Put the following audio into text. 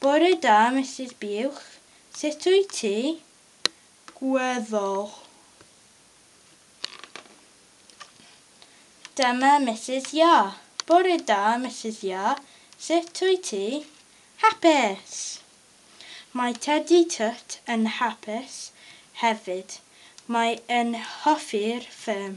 Bore da, Misus Buwch. Sut wyt ti? Gweddol. Dyma Misus Ia. Bore da, Misus Ia. Sut wyt ti? Hapus! Mae Tedi Twt yn hapus hefyd. Mae yn hoffi'r ffilm.